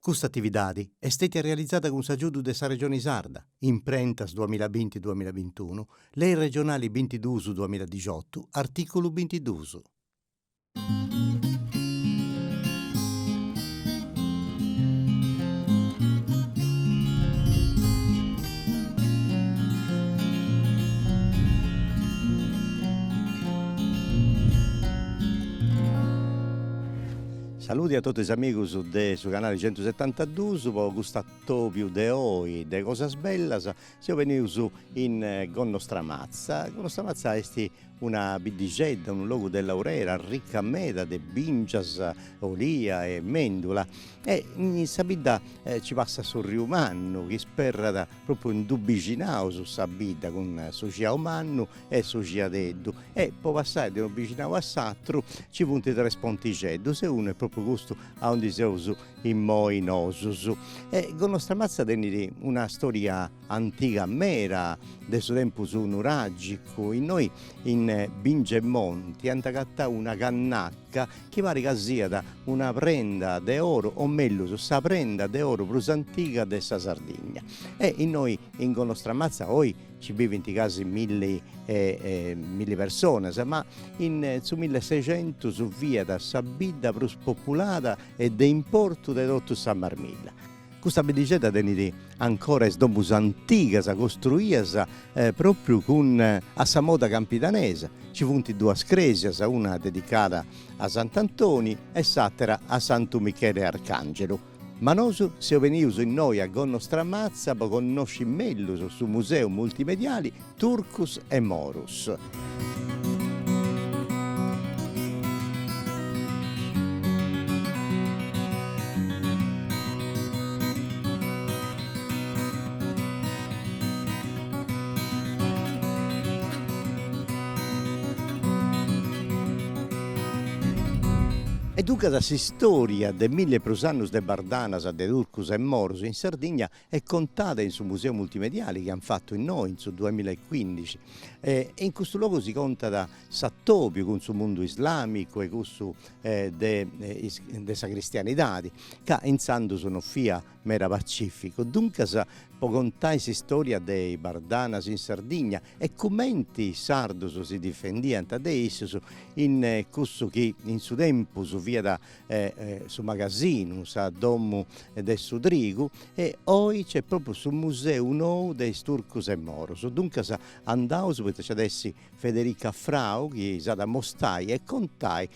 Custa atividadi est stètia realizada cun s'agiudu de sa Regioni Sarda, Imprentas duamilla binti duamilla bintunu, Lei Regionali bintiduus duamilla dixotu, artìculu bintiduus. Saludi a totus is amigus de su canali centusetantadus po cust'atobiu de oi de cosas bellas. Seu benius in Gonnostramatza, Gonnostramatza esti una biddixedda, unu logu de laurera arricca meda de bìngias, olia e mendula e in sa bidda ci passat su riu mannu chi isperrat propriu in dus bixinaus sa bidda cun su Giau Mannu e su Giadeddu e po passai de unu bixinau a s'atru ci funt tres pontixeddus e unu est propriu custu aundi seus immoi nosus e Gonostramatza tenit una storia antiga meda de su tempus nuragicu, innoi in Bingia 'e Monti ant agatau una cannacca chi parit ca siat una prenda de oru o mellus sa prenda de oru prus antiga de sa Sardigna e innoi in Gonostramatza oi Ci bivint casi milli personas, ma in su millesexentus fiat sa bidda prus populada e de importu de totu sa Marmilla. Custa biddixedda tenit ancora is domus antigas costruidas propriu cumenti a sa moda campidanesa, ci funt duas crèsias, una dedicada a Sant'Antoni e s'àtera a Santu Michele Arcàngelu. Ma nosu seu benius innoi a Gonnostramatza po connosci mellus su Museu Multimediali Turcus e Morus. E duncas s'istòria de milli e prus annus de bardanas, de turcus e morus in Sardigna est contada in su museu multimediali chi an fatu innoi in su duamilla e cuìndixi e in custu logu si contat s'atòbiu cun su mundu islàmicu e cussu de sa cristianidadi ca intzandus non fiat Meda pacìficu, duncas, po contai s'istòria de is bardanas in Sardigna e cumenti is sardus si difendiant de issus in cussu chi in su tempus fiat su magasinu, sa domu de su trigu, e oi nc'est pròpriu su museu nou de is turcus e morus. Duncas, andaus, poita nc'at a essi Federica Frau chi s'at a amostai e contai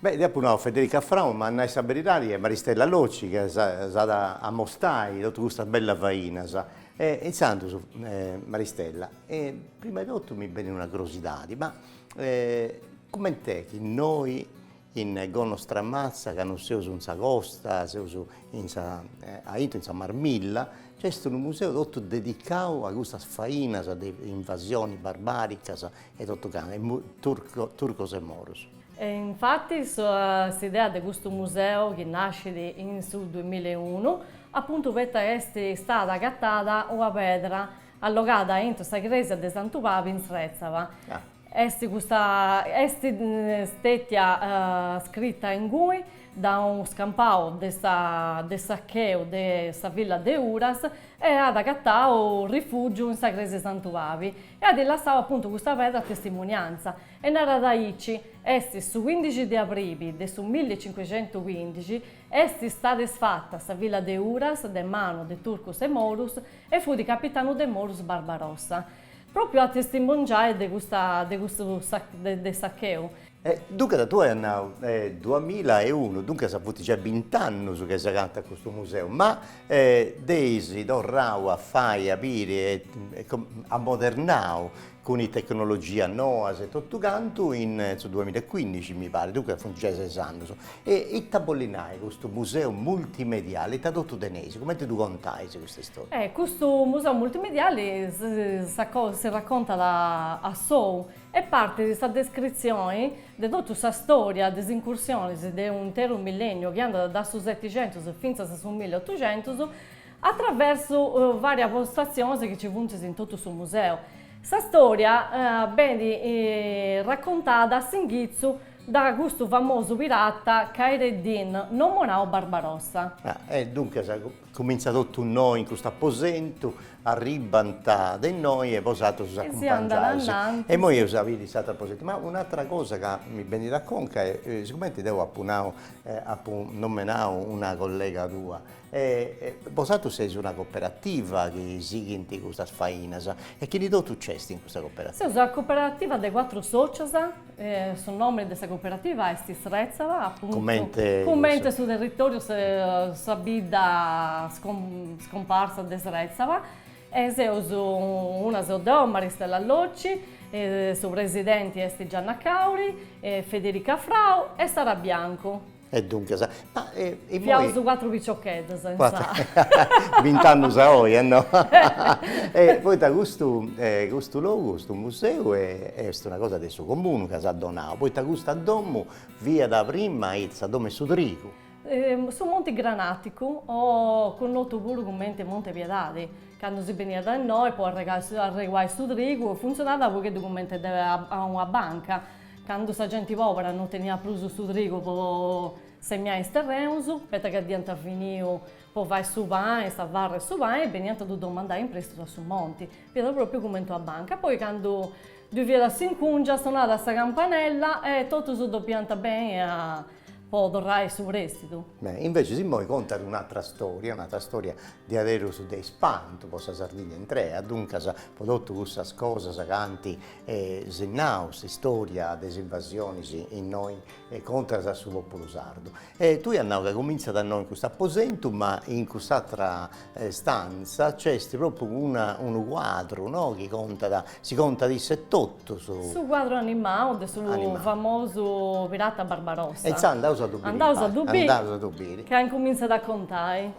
Beh, dd'ia apu nau, Federica Frau, ma a nai sa beridadi est Maristella Locci chi s'at a mostai totu custas bellas fainas. E intzandus, Maristella, prima 'e totu mi benit una curiosidadi, ma cument'est chi innoi in Gonnostramatza, ca non seus in sa costa, seus in sa aintru in sa Marmilla, nci est unu museu totu dedicau a custas fainas de invasioni barbaricas e totu cantu, turcos e moros? E infatis s'idea de custu museu chi nascit in su duimilla e unu, apuntu poita est istada agatada una pedra allogada aintru sa crèsia de Santu Pabi in Srètzava, est custa, est stètia scrita ingui da unu scampau de sa, de sacheu de sa villa de Uras e at agatau rifùgiu in sa crèsia 'e Santu Pabi e at lassau apuntu custa pedra a testimunianza E narat aici, a su cuindixi de abribi de su milli e cincuxentuscuindixi, est istada isfata sa villa de Uras de manu de turcus e morus e fut capitanu de morus Barbarossa, pròpiu a testimongiai de custa de custu de sacheu. E duncas tui as nau, duamila e unu, duncas funt giai bint'annus chi s'agatat custu museu, ma dd'eis torrau a fai, a biri e ammodernau cun is tecnologias noas e totu cantu in su duamilla e cuindixi mi parit, duncas funt giai ses annus, e ita bollit nai custu museu multimediali, ita totu teneis, cumenti ddu contais custa istoria? E custu museu multimediali si raccontat a sou e partit sa descritzioni de totu sa storia de is incursionis de u' interu millenniu chi andat da su setixentus fintzas a su milleotuxentus, a traversu vàrias postatzionis chi nci funt in totu su museu. Sa stòria benit racontada a s'inghitzu de custu famosu pirata Khayr Eddin, nomenau Barbarossa. E duncas cumintzat totu innoi in custu aposentu, arribbant de innoi e bosatrus ddus acumpangiais. E imoi eus a biri s'atru aposentu. Ma un'atra cosa ca mi benit a conca est sigumenti deu apu nau, apu nomenau una collega tua, E bosatrus seis una coperativa chi sighint custas fainas, e chini totu nc'est in custa coperativa? Seus una coperativa de cuatru sòcios, su nomini de sa coperativa est Srètzava, apuntu, comente, comente su territòriu, sa bidda scomparsa de Srètzava, e seus una seu deu, Maristella Locci, su presidenti est Gianna Cauri, Federica Frau e Sara Biancu. E duncas, ma immoi. Seus cuatru piciocheddas in sa. Bint'annus a oi, no. E poita custu custu logu, custu museu est una cosa de su comunu ca s'at donau, poita custa domu fiat prima ita, sa domu 'e su trigu. Su Monti Granaticu o connotu puru cumenti Monte 'e Piedadi, candu si beniat a innoi po arregai arreguai su trigu, funtzionat u' pogheddu cumenti a una banca Candu sa genti pòbera non teniat prus su trigu po semiai is terrenus, poita chi dd'iant finiu po fai su pani, sa farra e su pani, beniant a ddu domandai in prèstitu a su monti, fiat pròpriu cumenti una banca. Poi candu ddu fiat a s'incùngia sonàt a sa campanella e totus depiant benni a po torrai su prèstitu. Invecias immoi contat un'atra storia, un'atra storia diaderus de ispantu po sa Sardigna intrea, duncas po totu cussas cosas ca ant E si narat s'istoria de is invasionis innoi contras a su populu sardu. E tui as nau ca comintzat innoi in custu aposentu ma in cuss'atra stanza nc'est propriu una unu cuadru no chi contat, si contat issa etotu su. Su cuadru animau de su famosu pirata Barbarossa. E intzandus andaus a ddu biri. Andaus a ddu biri. Ca incumintzat a contai.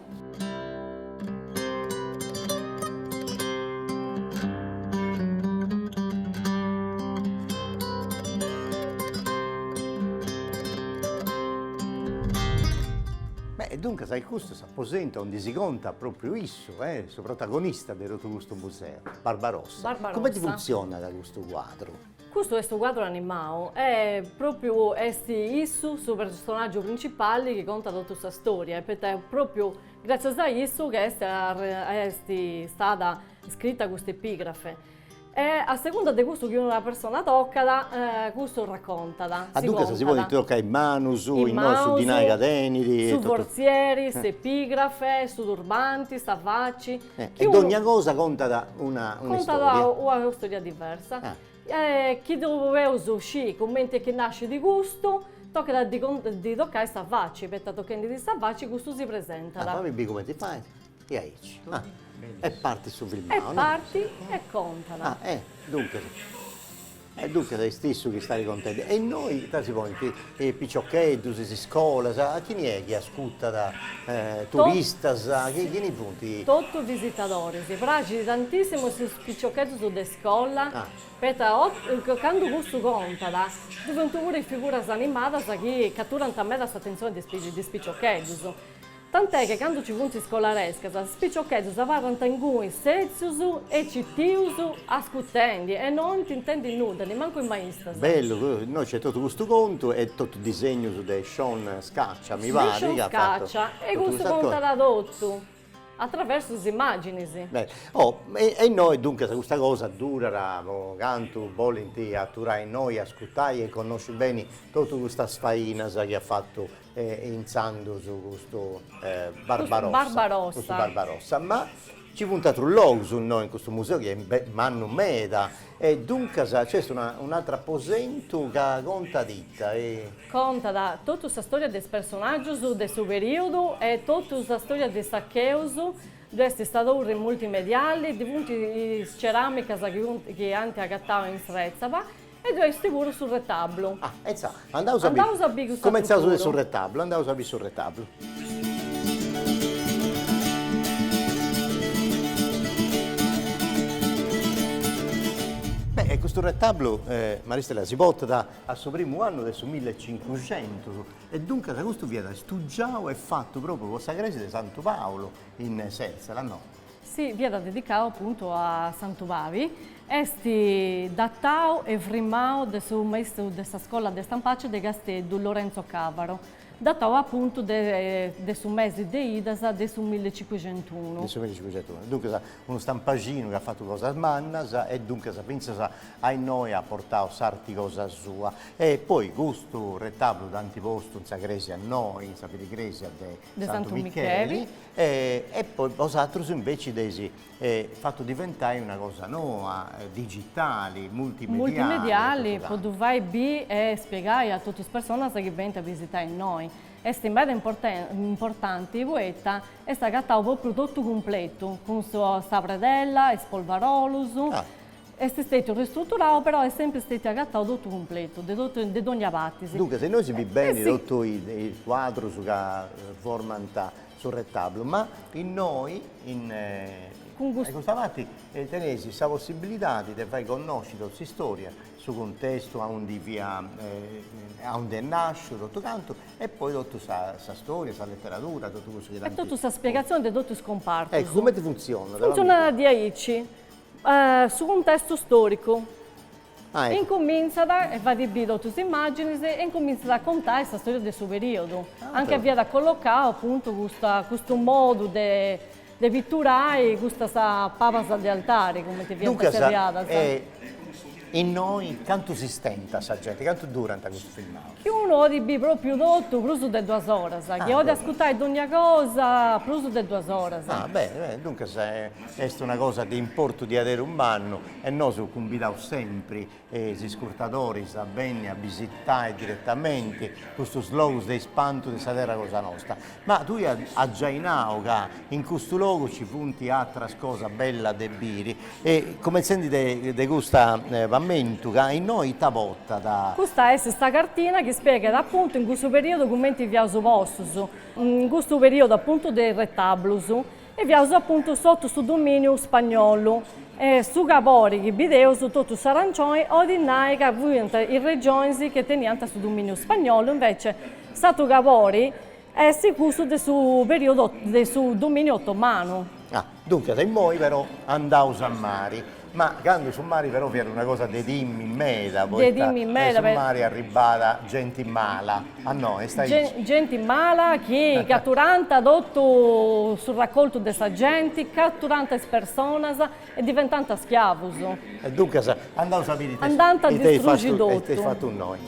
Beh, e duncas est custu s'aposentu aundi si contat propriu issu e su protagonista de totu custu museu, Barbarossa. Barbarossa. Cumenti funtzionat custu cuadru? Custu est su cuadru animau e propriu est issu su personaggiu principali chi contat totu sa storia poita est propriu gratzias a issu chi est est stada scrita custa epigrafe e a segunda de cussu chi una persona tocat cussu racontat, si contat. Ah, duncas si podint toccai is manus, innoi su dinai ca tenit e totu. Su forzieri, s'epigrafe, su turbanti, sa faci, E dogna cosa contat una istòria. Contat una istòria diversa. Chi 'oleus sciri cumenti chi nascit custu, tocat a ddi tocai sa faci, poita tochendi·ddi sa faci custu si presentat. Ah, fami biri cumenti fait. E aici. E partit su filmau, no? E partit e contat. Ah, e duncas. E duncas est issu chi istat contendi. E innoi ita, si ponint? Piciocheddus, is iscolas, chini est chi ascutat? Turistas, chini funt? Totu visitadoris. Praxit tantissimu a is piciocheddus de iscola, poita candu cussu contat, ddu funt puru is figuras animadas chi caturant meda s'atentzioni de is piciocheddus. Tant'è che candu ci funt iscolarescas, is piciocheddus abarrant inguni setzius e citius ascutendi e no intendint nudda, nimancu is maistas. Bellu, innoi nc'est totu custu contu e totu disegnus de Sean Scaccia, mi parit, ca at fatu totu custas cosas. De Sean Scaccia, e custu contat totu atraversu is imaginis. Beni, oh, e innoi duncas custa cosa durat po cantu bolint aturai innoi a ascutai e connosci beni totu custas fainas chi at fatu e intzandus custu Barbarossa. Custu Barbarossa. Custu Barbarossa, ma nci funt atrus logus innoi in custu museu chi est mannu meda e duncas nc'est un'atru aposentu ca contat ita? Contat totu sa stòria de is personàgius de su perìodu e totu sa stòria de is sacheus, ddoi est sa torri multimediali, ddi funt is ceràmicas chi ant agatau in Sèrtzela E ddoi est puru su retablu. Ah, e intzà, andaus a biri. Andaus a biri cuss'atru puru. Cumentzaus de su retablu, andaus a biri su retablu. Beh, e custu retablu, Maristella, si portat a su primu annu de su millecincuxentus, e duncas custu fiat stugiau e fatu propriu po sa crèsia de Santu Paulu in Sèrtzela, no? Si fiat dedicau apuntu a Santu Pali, est datau e frimmau de su maistru de sa scola de Stampaxi de Casteddu Lorenzo Cavaro, datau apuntu de su mesi de idas de su millicincuxentusunu. De su millicincuxentusunu. Duncas unu stampaxinu chi at fatu cosas mannas e duncas fintzas a innoi at portau s'arti cosa sua. E poi custu retabulu dd'ant postu in sa cresia innoi, in sa filigresia de Santu Micheli e poi bosatrus inveci dd'eis fatu diventai una cosa noa, digitali, multimediali. Multimediali po ddu fai bi e spiegai a totu is personas chi benint a bisitai innoi. Est meda importanti poita est agatau po prus totu cumpletu cun sa predella, is polvarolus. Est stètiu ristruturau però est sèmpiri stètiu agatau totu cumpletu, de totu, de dònnia parti. Duncas innoi si bit beni totu is cuadrus ca formant su retabulu, ma innoi in. Cun custu. Custa parti teneis sa possibilidadi de fai connosci totu s'istòria, su cuntestu aundi fia, aundi est nasciu totu cantu e poi totu sa sa stòria, sa leteradura, totu cussu chi tanti. E totu sa spiegazzioni de totu is cumpartus. Eccu, cumenti funtzionat. Funtzionat diaici. Su cuntestu stòricu. Incumintzat, e fait bì totu is imàginis, e incumintzat a contai sa storia de su perìodu. Anca fiat collocau apuntu custa custu modu de de pitturai custas pabas de altari, cumenti fiant zerriadas. Duncas, Innoi cantu s'istentat sa genti, cantu durat custu filmau? Chi unu odit bi propriu totu prus de duas oras, chi odit ascurtai dogna cosa prus de duas oras. Ah beni beni, duncas est una cosa de importu diaderus mannu e nosu cumbidaus sempri is ascurtadoris a benni a bisitai diretamenti custus logus de ispantu de sa terra cosa nosta. Ma tui as giai nau ca in custu logu ci funt atras cosas bellas de biri e cumentzendi de cust'aposentu ca innoi ita potat. Custa est sa cartina chi spieghet apuntu in cussu periodu cumenti fiaus postus in custu periodu apuntu de is retablus. E fiaus apuntu sotu su dominiu spagnolu. E su cabori chi bideus totu in arancioni odit nai ca fuiant is regionis chi teniant su dominiu spagnolu, invece s'atru cabori est cussu de su periodu de su dominiu ottomanu. Ah, duncas immoi però andaus a mari. Ma candu su mari però fiat una cosa de timmi meda poita de su mari arribàt genti mala a innoi, est aici. Genti mala chi caturànt totu su racoltu de sa genti, caturànt is personas e diventànt schiavus. E duncas andaus a biri ita eis fatu innoi.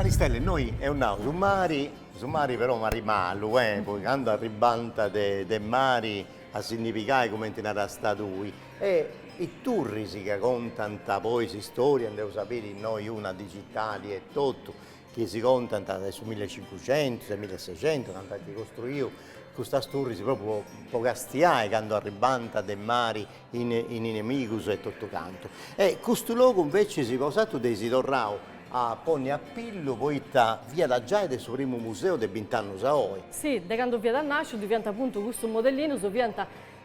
Maristella innoi eus nau su mari, su mari però mari malu e poi candu arribànt de mari a si ndi pigai cumenti narasta tui E is turris ca contant poi s'istoria nd'eus a biri innoi in digitali etotu chi si contant de su millecincucentus de millesexentus candu ant costruiu custas turris propriu po castiai candu arribànt de mari is inemigus e totu cantu. E custu logu inveci bosatrus dd'eis torrau a ponni a pillu poita fiat giai de su primu museu de bint'annus a oi. Si, de candu fiat nàsciu fiant apuntu custus modellinus, fiant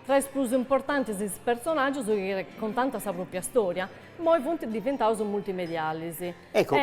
Tra is prus importantis is personàgius chi contant sa pròpia stòria, immoi funt diventaus multimedialis, Ecco,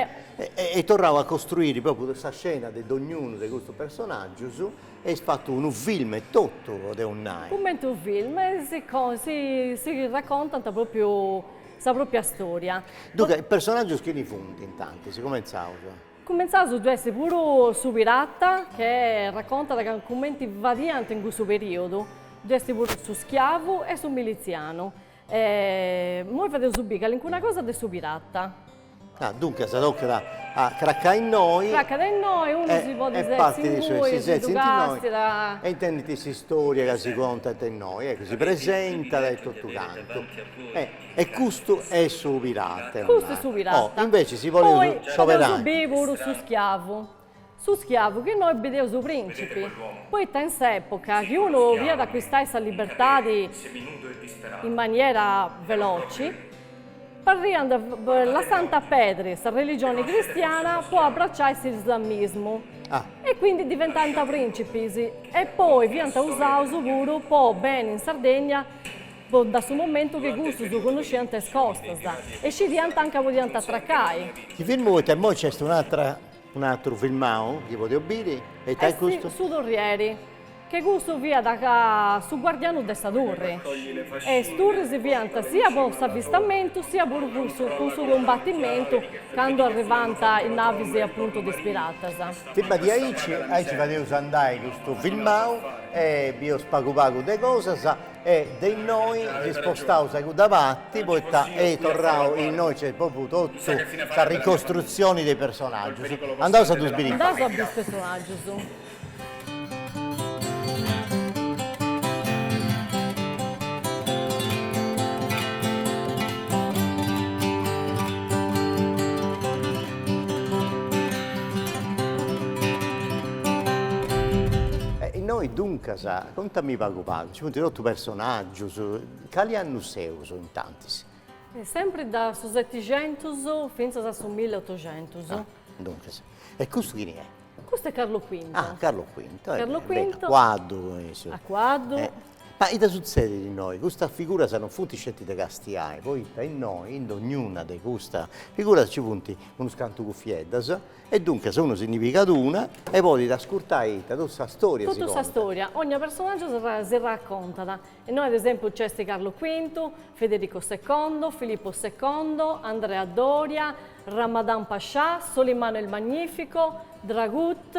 eis torrau a costruiri propriu sa scena de dognunu de custus personàgius, e eis fatu unu film e totu, podeus nai. Cumenti unu film, si racontant propriu sa pròpia stòria. Duncas, personàgius chini funt intanti? Cumentzaus. Cumentzaus ddu est puru su pirata che racontat cumenti fadiant in cussu periodu, ddu est puru su schiavu e su militzianu. Immoi fadeus biri calincuna cosa de su pirata. Ah, duncas tocat a cracai innoi. Cracat innoi, unu si podit setzi ingui, si ddu càstiat. E intendit s'istória ca si contat innoi, eccu, si presentat e totu cantu. E custu est su pirata. Custu est su pirata. Oh, invece si poneus s'oberanu. Poi podeus biri puru su schiavu. Su schiavu, chi innoi bideus su principi. Poita in s'epoca chi unu biiat a accuistai sa libertadi in maniera veloci, podiant lassai a perdi sa religioni cristiana po abbraciai s'islamismu e quindi diventaiant principis e poi fiant usaus puru po benni in Sardegna da su momentu chi cussus connosciant is costas e scidiant a nca podiant atracai. Si firmu poita immoi nc'est un'atra, un'atru filmau chi podeu biri, e ita est custu? Est su turrieri, chi cussu fiat su guardianu de sa turri. E is turris fiant sia po s'avistamentu sia puru cun su cumbatimentu candu arrivànt is navis apuntu de is piratas. Firma de aici, aici fadeus andai custu filmau e bius pagu pagu de cosas. E de innoi si spostaus a cudda parti poita eis torrau e innoi nc'est propriu totu sa ricostrutzioni de is personaggius. Andaus a ddus biri innoi. Andaus a biri is personaggius. E innoi duncas, contami pagu. Pagu, nci funt totu personàgius. Cali annu seus in tantis? Sempri da su setixentus fintzas a su milleotoxentus. Ah, duncas. E custu chini est? Custu est Carlo Quinto. Ah, Carlo Quinto, e beni, a cuaddu. A cuaddu. Ma ita sutzedit innoi? Custas figuras non funt sceti de Castiai, poita innoi, in dognuna de custas figuras nci funt unus cantu cufieddas, E duncas unu si ndi pigat una e podit ascurtai ita totu sa storia si contat. Totu sa storia, ogna personaggiu si racontat. Innoi ad esempiu nc'est Carlu Quintu, Federico Secondo, Filippo Secondo, Andrea Doria, Ramadan Pascià, Solimano il Magnifico, Dragut,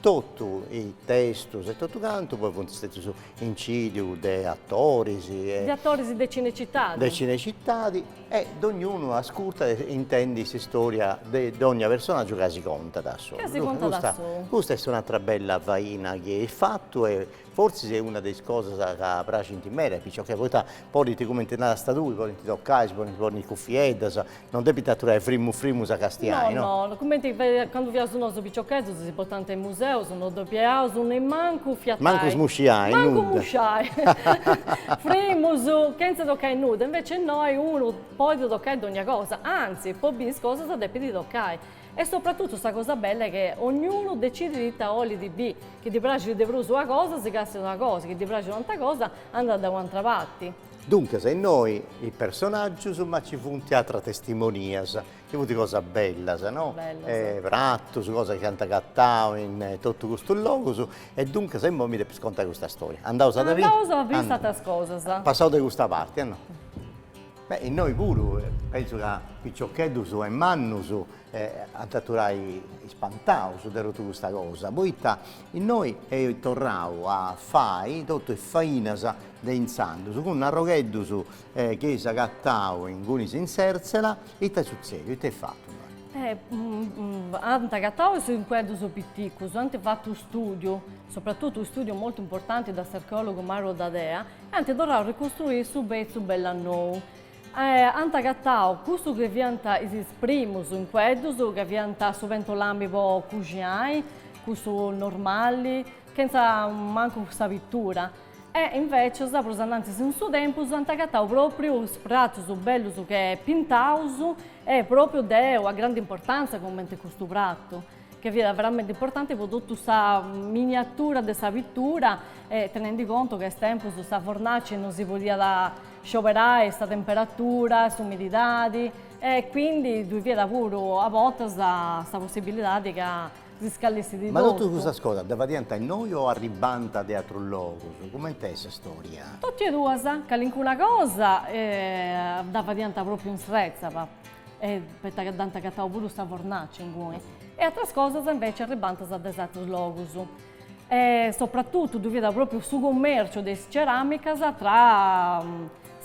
Totu is testus e totu cantu poi funt stetius incidiu de atoris e. De atoris de Cinecitadi. De Cinecitadi e dognunu ascurtat e intendit s'istoria de dogna personaggiu ca si contat a solu. Ca si contat a solu. Custa est un'atra bella faina chi eis fatu e Fortzis est una de is cosas ca praxint meda a is piciocheddus, poita podint, cumenti narasta tui, podint tocai, si podint ponni is cufieddas, non depint aturai frimus frimus a castiai, no? No, no, cumenti candu fiaus nosu piciocheddus si portant in museus, no depieaus nemmancu fiatai. Mancu smusciai, nudda. Mancu musciai. Frimus, chentza tocai nudda, inveci innoi unu podit tocai dogna cosa, antzi, po biri is cosas depit tocai. E sopratutu sa cosa bella est chi ognunu decidit ita olit bi, chi ddi praxit de prus una cosa si càstiat una cosa, chi ddi praxit u' antra cosa andat da u' antra parti. Duncas innoi is personaggius ma ci funt atras testimonias, chi funt cosas bellas no, pratus, cosas chi ant agatau in totu custus logus e duncas immoi mi depis contai custa storia. Andaus a dda biri? Andaus a biri is atras cosas. Passaus de custa parti e no. Beh innoi puru penzu ca piciocheddus e mannus ant a aturai ispantaus de totu custa cosa, poita innoi eus torrau a fai totu is fainas de intzandus, cun arrogheddus chi eus agatau ingunis in Sertzela, ita est sutzediu, ita est fatu? Ant agatau is incueddus piticus, ant fatu u' stùdiu, sopratutu u' stùdiu moltu importanti de s'archeòlogu Mauro Dadea e ant torrau a ricustruiri su petzu bell'e nou. Ant agatau cussu chi fiant is primus incueddus, ca fiant su pentolami po cuxinai, cussu normali, chentza mancu sa pittura, e invecias prus annantis in su tempus ant agatau propriu is pratus bellus che pintaus e propriu de una grandi importantza cumenti custu pratu. chi fiat veramente importante po totu sa miniatura de sa pitura e tenendi contu ca a is tempus sa fornaci non si podiat scioberai, sa temperatura, s'umididadi e quindi ddui fiat puru a bortas sa possibilidadi ca si scallessit. Ma totu cussas cosas dda fadiant innoi o arribbant de atrus logus? Cumenti est sa storia? Totu e duas, calincuna cosa dda fadiant propriu in Sretza. e poita ca dd'ant agatau puru sa fornaci inguni, e atras cosas inveci arribanta de atrus logus, e sopratutu ddui fiat propriu su cummerciu de is ceramicas tra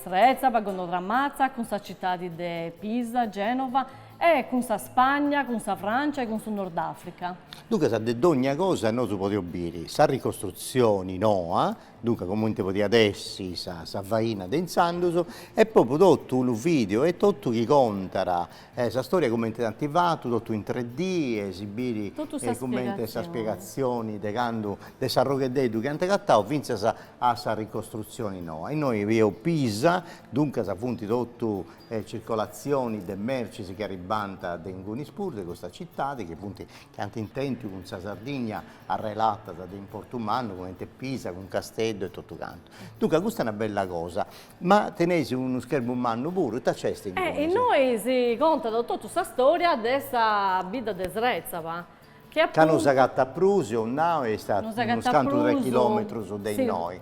Srètzaba, Gonnostramatza, cun sa citadi de Pisa, Genova, e cun sa Spagna, cun sa Francia e cun su Nordafrica. Duncas de dogna cosa nosu podeus biri sa ricostrutzioni noa Duncas comente podiat essi sa sa faina de intzandus e propriu totu unu video e totu chi contat sa storia comente ant fatu totu in tre d e si bit comente sa spiegazioni de candu de s'arrogheddeddu chi ant agattau finzas a sa ricostruzioni noa. Innoi bieus Pisa, duncas funti totu circolazioni de mercis chi arribbant de ingunis puru de custa cittadi chi funti chi ant tèntiu cun sa Sardigna arrelatas de importu mannu, comente Pisa cun Casteddu e totu cantu. Duncas custa est una bella cosa, ma teneis unu schermu mannu puru, ita nc'est? Innoi si contat totu sa storia de sa bidda de Srètzaba, chi appuntu. Ca non s'agatat prus, eus nau, e est a unus cantu de chilòmetrus de innoi.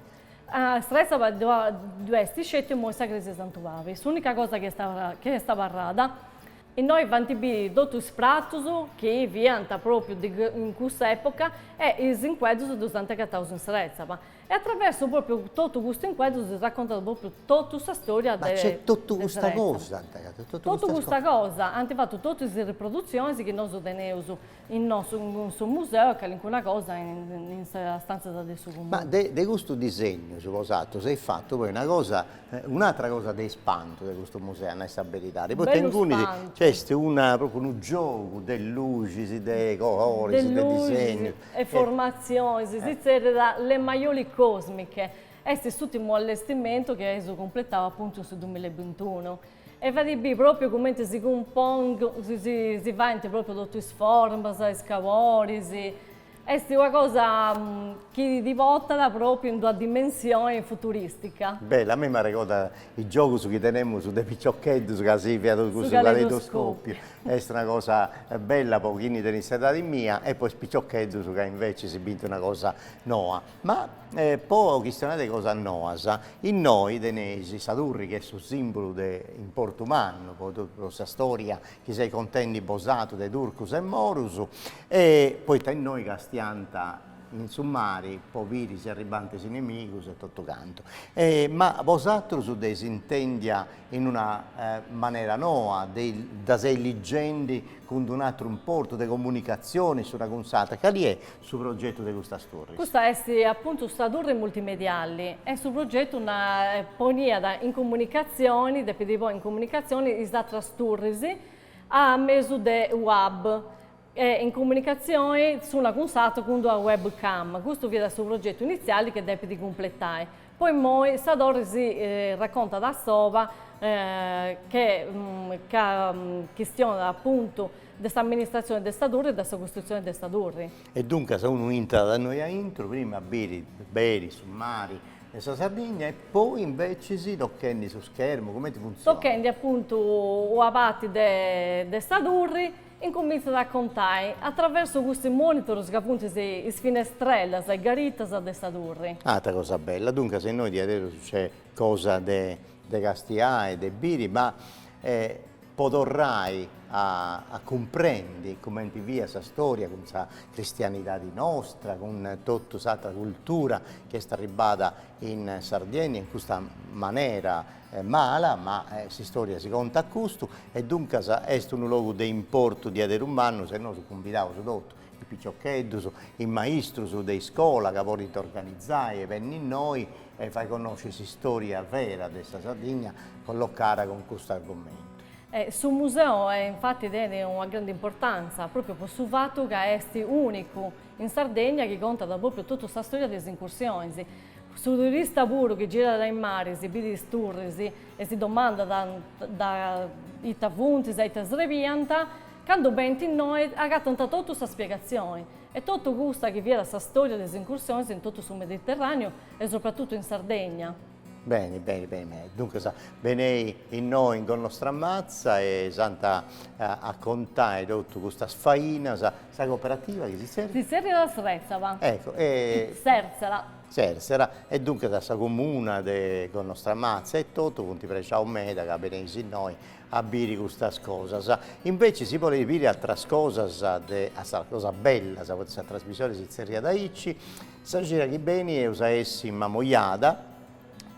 Srètzaba ddu est sceti imoi sa crèsia de Santu Pabi, s'ùnica cosa chi est abarrada. Innoi faint biri totu is pratus chi fiant pròpriu de in cussa època e is incueddus ddus ant agataus in Serzela e a traversu pròpriu totu custu incueddu si raccontat pròpriu totu sa stòria de Serzela. Ma nc'est totu custa cosa? Totu custa cosa, ant fatu totu is riprodutzionis chi nosu teneus Innoi in su museu e calincuna cosa in sas stantzas de su Comunu. Ma de custus disegnus bosatrus eis fatu poi una cosa, un'atra cosa de ispantu de custu museu, a nai sa beridadi, poita inguni nc'est una, propriu unu giogu de luxis, de coloris, de disegnus. e formatzionis, si zerriat Le Maiolicosmiche, est s'ùrtimu allestimentu chi eus cumpletau apuntu in su dumilabintunu. E fait bì pròpiu cumenti si cumpon si faint pròpiu totu is formas, is caboris, est una cosa chi ti portat pròpiu in d'una dimensioni futurìstica. Beh, a mei m'arregordat is giogus chi tenemus de piciocheddus ca si fiat cussu caleidoscòpiu, est una cosa bella po chini tenit s'edadi mia e po is piciocheddus ca inveci si bint una cosa noa. Ma po chistionai de cosas noas, innoi teneis sa turri chi est su simbulu de importu mannu po totu sa storia chi seis contendi bosatrus de Turcus e Morus, e poita innoi castiant in su mari po biri si arribant is inemigus e totu cantu. Ma bosatrus dd'eis intèndia in una manera noa, dda seis ligendi cun d'un'atru importu de comunicatzioni s'una cun s'atra, cali est su progetu de custas turris. Custa est apuntu sa turri multimediali e su progetu dda poniat in comunicatzioni, depit ponni in comunicatzioni is atras turris a mesu de web e in comunicatzioni s'una cun s'atru cun d'una web cam. Custu fiat su progetu initziali chi depit cumpletai. Po immoi sa torri si racontat a soba ca chistionat apuntu De s'amministratzione de sa turri e de sa custrutzione de sa turri. E duncas unu intrat a innoi a intru, prima a biri beri su mari de sa Sardigna e poi invecis tochendi su schermu, comenti funtzionat? Tochendi apuntu una parti de sa turri, incumintzat a contai a traversu custus monitorus ca funt is finestrellas, is garitas de sa turri. Atra cosa bella, duncas innoi diaderus nc'est cosa de de castiai, de biri, ma po torrai a a cumprendi cumenti fiat sa storia cun sa cristianidadi nostra, cun totu s'atra cultura chi est arribbada in Sardiennia in custa manera mala, ma s'istoria si contat custu e duncas est unu logu de importu diaderus mannu, e nosu cumbidaus totu is piciocheddus, is maistrus de iscola ca bolint organizai e benni innoi e fai connosci s'istória vera de sa Sardigna collocada cun custu argumentu. Su museu infati tenit una grandi importantza própriu po su fatu ca est únicu in Sardegna chi contat própriu totu sa stória de is incursionis. Su turista puru chi girat a is maris bidit is turris e si domandat ita funtis, a ita srebiant, Candu benint innoi agatant totu sa spiegatzioni, e totu custa chi fiat sa stòria de is incursionis in totu su Mediterràneu e sopratutu in Sardegna. Beni, beni, beni, beni. Duncas, benei innoi in Gonnostramatza e s'ant a contai totu custas fainas, sa cooperativa chi si tzerriat? Si tzerriat Sretzaba. Eccu, e. Sèrtzela. Sèrtzela, e duncas sa comuna de Gonnostramatza e totu funt prexaus meda ca beneis innoi a biri custas cosas, inveci si boleis biri atras cosas de atras cosas bellas, poita sa trasmisione si tzerriat aici, sa cida chi benit eus a essi in Mamoiada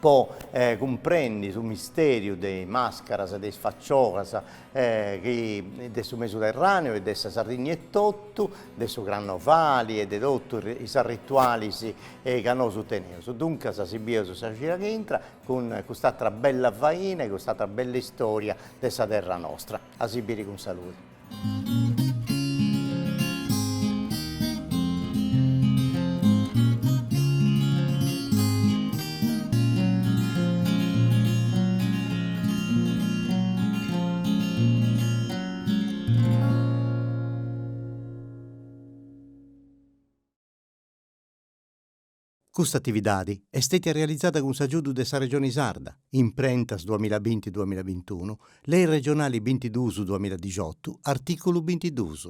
po cumprendi su misteriu de is mascaras, de is facciolas de su Mesuterraneu e de sa Sardigna etotu, de su Crannovali e de totus is arritualis chi nosu teneus. Duncas si bieus sa cida chi intrat cun cust'atra bella faina e cust'atra bella istoria de sa terra nostra. A si biri cun saludi. Custa atividadi est stètia realizada cun s'agiudu de sa Regioni Sarda, imprentas duamilla binti duamilla bintunu, Lei Regionali bintiduus duamilla dixotu, artìculu bintiduus.